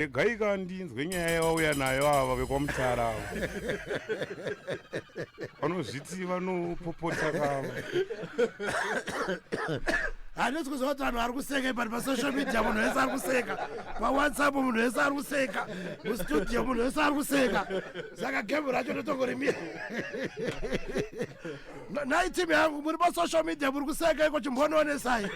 regaika ndinzwe nyaya yavauya nayo ava vekwamutara ava vanozviti vanopopota kava handisi kuziva kuti vanhu vari kuseka but pasocial media munhu wese ari kuseka pawhatsapp munhu wese ari kuseka mustudio munhu wese ari kuseka saka gemu racho ndotongorimira nhai team yangu muri pasocial media muri kuseka iko chimbonoonesai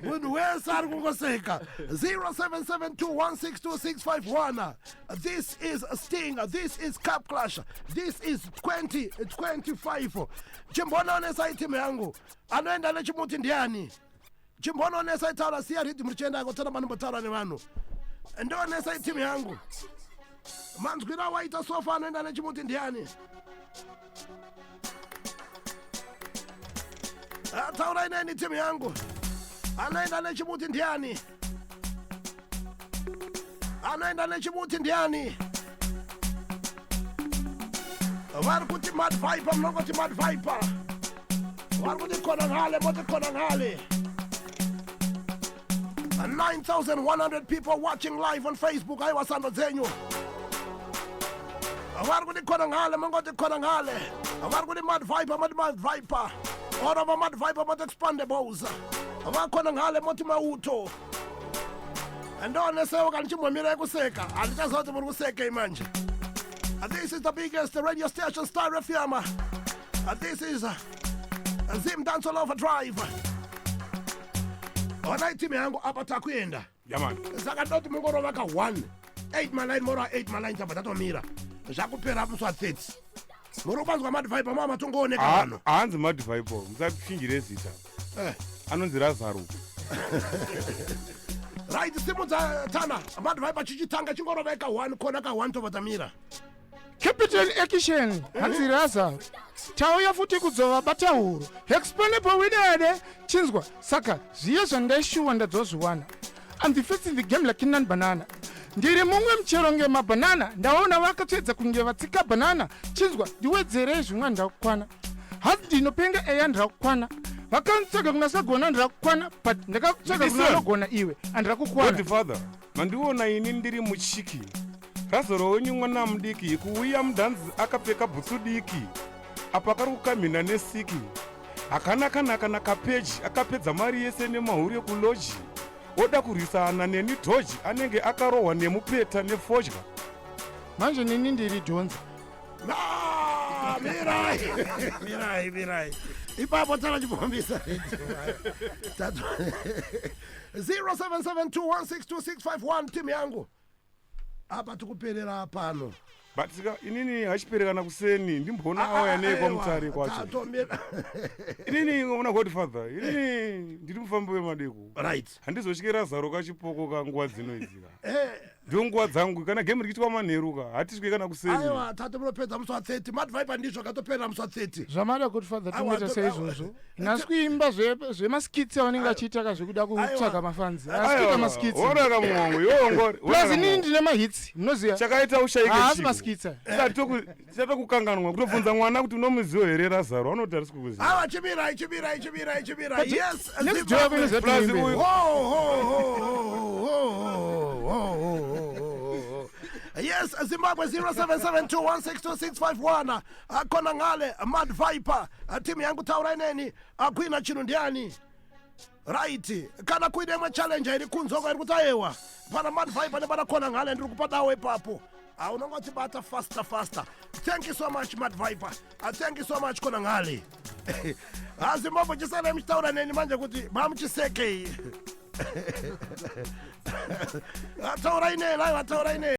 munhu wese ari kungoseka 0772162651 this is sting this is cap clash this is 2025 chimbonoonesai team yangu anoenda nechimuti ndiani chimbononesa itaura siya ridi muri chienda yako tsana manombotaura nevanhu ndionesa itimu yangu manzwira waita sofa anoenda nechimuti ndiani ataurai neni timu yangu anoenda nechimuti ndiani anoenda nechimuti ndiani vari kuti mad viper munongoti mad viper vari kuti konanhale moti konanhale 9100 people watching live on facebook aiwa sando dzenyu vari kuti konanhale mongoti konanhale vari kuti mad viper moti mad viper orova mad viper moti expandables vakonanhale moti mauto handionesewo kana chimbomira kuseka handichaziva kuti muri kusekei manje uh, this is the biggest radio station star fm uh, this is uh, zim dance all over drive onai team yangu apa takuenda yamani saka ndoti mungorova ka 1 8 maline mora 8 maline chabva tatomira zvakupera muswa 30 morobanzwa madvibe mava matongooneka pano haanzi madvibe musachinjire zita eh. anonzi razaro right simudza tana madvibe chichitanga chingorovai ka one kona ka one tovatamira capital action hanzi razaro tauya futi kudzova batahuro exponable widede chinzwa saka zviye zvandaishuwa ndadzozviwana I'm the first in the game like Nan Banana. Ndiri mumwe muchero nge mabanana ndaona vakatsvedza kunge vatsika banana chinzwa ndiwedzerei zvimwa ndakukwana hasi ndinopenga eya ndakukwana vakanitsvaga kuna sagona ndakukwana but ndakakutsvaga kuna anogona iwe andakukwana mandiona ini ndiri muchiki Razoro wenyu mwana mudiki kuuya mudhanzi akapfeka bhutsu diki apa kari kukamhina nesiki hakana kana kana kapeji akapedza mari yese nemahure kuloji oda kurwisana neni dhoji anenge akarohwa nemupeta nefodya manje nini ndiri dhonza mirai mirai mirai ipapo tana chipombisa 0772162651 timu yangu apa tikuperera pano but sika inini hachiperekana kuseni ndimboona awo yanei kwamutare kwacho inini ngoona godfather inini ndiri mufambi wemadeko right handizotyira zaro kachipoko ka nguva dzino idzika eh. ndiwo nguva dzangu kana game rikiitwa manheru ka hatiswe kana kuseni aiwa tate munopedza musi wa 30 madviper ndizvo akatoperera musi wa 30 zvamada godfather tinoita seizvozvo nhasi kuimba zvemaskits avanenge vachiita ka zvekuda kutsvaga mafanzi asikuita maskitsonaka muhongo yongori plus inini ndine mahits munoziva chakaita ushaikehaasi maskits chatokukanganwa kutobvunza mwana kuti unomuzivo here razaro anoti arisi kukuziva chimirai chimirai chimirai chimirai yes Yes, Zimbabwe 0772162651. akona ngale mad viper timu yangu taurai neni akuina chinhu ndiani right kana kuine imwe challenge iri kunzwa kwairi kuti ayewa pana mad viper nepana kona ngale ndiri kupa dawo ipapo ah, unonge wachibata faster faster thank you so much mad viper ah, thank you so much kona ngale hazi mambo chisanai muchitaura neni manje kuti mamuchisekei ataurai nei lai vataurai nei